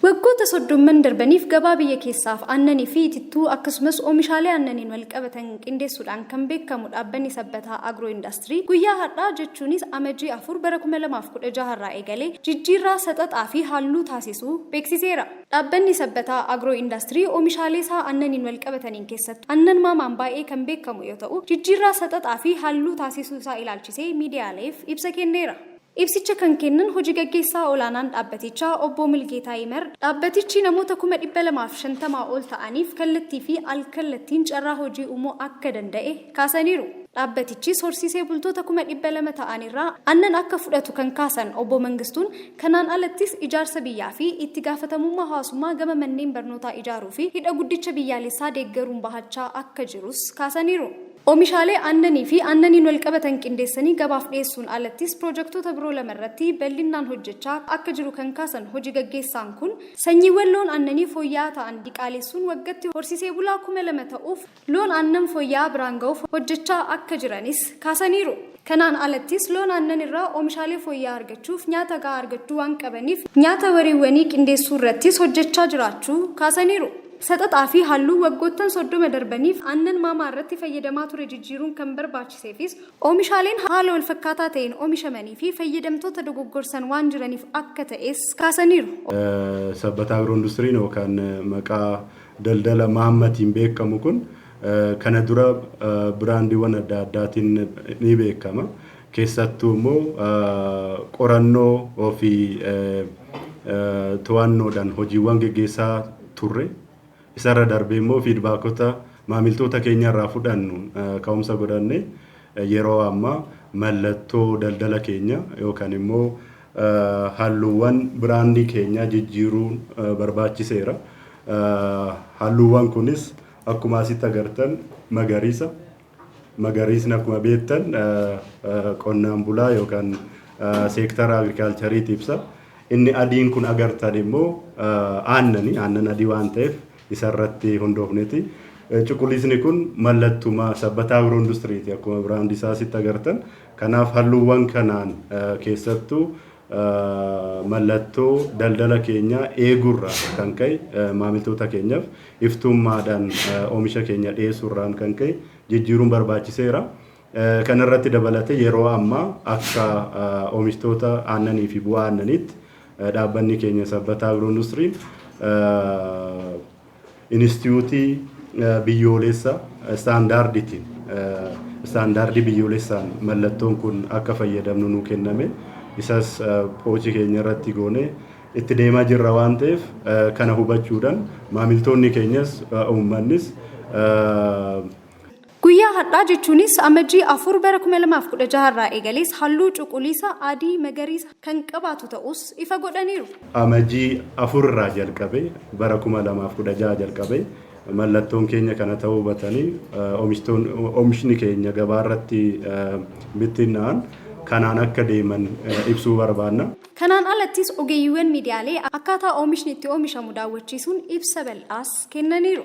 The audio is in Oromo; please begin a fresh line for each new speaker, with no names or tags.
Waggoota soddomman darbaniif gabaa biyya keessaaf aannanii fi itittuu akkasumas oomishaalee aannaniin walqabatan qindeessuudhaan kan beekamu dhaabbanni Sabbataa Agroo Indaastirii guyyaa har'aa jechuunis Amajii 4 bara 2016 irraa eegalee jijjiirraa saxaxaa fi halluu taasisuu beeksiseera. Dhaabbanni Sabbataa Agroo Indaastirii oomishaalee isaa aannaniin walqabataniin keessattuu aannan maamaan baay'ee kan beekamu yoo ta'u jijjiirraa saxaxaa fi halluu taasisuu isaa ilaalchisee miidiyaaleef ibsa kenneera. Ibsicha kan kennan Hoji Gaggeessaa Olaanaan Dhaabbatichaa Obboo Mulgeetaa Yimar, dhaabbatichi namoota kuma 250 ol ta'aniif kallattii fi al-kallattiin carraa hojii uumuu akka danda'e kaasaniiru. Dhaabbatichis horsiisee bultoota kuma 200 ta'an irraa annan akka fudhatu kan kaasan Obbo Mangistuun, kanaan alattis ijaarsa biyyaa fi itti gaafatamummaa hawaasummaa gama manneen barnootaa ijaaruu fi Hidha Guddicha Biyyaalessaa deeggaruun bahachaa akka jirus kaasaniiru. Omishaalee aannanii fi aannaniin walqabatan qindeessanii gabaaf dhiyeessuun alattis piroojektoota biroo lama irratti bal'innaan hojjechaa akka jiru kan kaasan hoji gaggeessaan kun, sanyiiwwan loon aannanii fooyya'aa ta'an diqaaleessuun waggatti horsiisee bulaa kuma lama ta'uuf loon aannan fooyya'aa biraan ga'uuf hojjechaa akka jiranis kaasaniiru. Kanaan alattis loon aannan irraa oomishaalee fooyya'aa argachuuf nyaata gahaa argachuu waan qabaniif nyaata wariiwwanii qindeessuu irrattis hojjechaa jiraachuu kaasaniiru. Saxaxaa fi halluu waggoottan 30 darbaniif aannan maamaa irratti fayyadamaa ture jijjiiruun kan barbaachiseefis oomishaaleen haala walfakkaataa ta'een oomishamanii fi fayyadamtoota dogoggorsan waan jiraniif akka ta'es kaasaniiru. Sabbataa
Agro-Industiriin yookaan maqaa daldala Maammatiin beekamu kun Kana dura biraandiiwwan adda addaatiin ni beekama. Keessattuu immoo qorannoo fi to'annoodhaan hojiiwwan geggeessaa turre. Isarra darbee immoo fiidbaakota maamiltoota keenyarraa fudhannu ka'umsa godhannee yeroo ammaa mallattoo daldala keenyaa yookaan immoo halluuwwan biraandii keenyaa jijjiiruun barbaachiseera. Halluuwwan kunis Akkuma asitti agartan magariisa. Magariisni akkuma beektan qonnaan bulaa yookaan seektara agrikaalchariiti ibsa. Inni adiin kun agartan immoo aannani. Aannan adii waan ta'eef isarratti hundoofneti. Cuquliisni kun mallattuma sabbataa agiroo industiriiti akkuma biraandii isaa asitti agartan. Kanaaf halluuwwan kanaan keessattuu mallattoo daldala keenyaa eeguurraa kan ka'e maamiltoota keenyaaf iftuummaadhaan oomisha keenya dhiyeessuurraan kan ka'e jijjiiruun barbaachiseera. Kana irratti dabalatee yeroo ammaa akka oomishtoota aannanii fi bu'aa aannaniitti dhaabbanni keenya Sabbataa Agiroo Industiriin Inistiyuutii biyyooleessa istaandaardiitiin, istaandaardii biyyoolessaan mallattoon kun akka fayyadamnu nuu kenname. Isas poochi keenya irratti goone itti deemaa jirra waan ta'eef kana hubachuudhan maamiltoonni keenyas uummannis.
Guyyaa har'aa jechuunis Amajjii 4 bara 2016 irraa eegalees halluu cuquliisa, adii, magariisa kan qabaatu ta'uus ifa godhaniiru. Amajjii
4 irraa jalqabee bara 2016 jalqabee mallattoon keenya kana ta'uu hubatanii omishtoon omishni keenya gabaa irratti bittinna'an kanaan akka deeman ibsuu barbaanna. Kanaan alattis
ogeeyyiiwwan miidiyaalee akkaataa omishni itti omishamu daawwachiisuun ibsa bal'aas kennaniiru.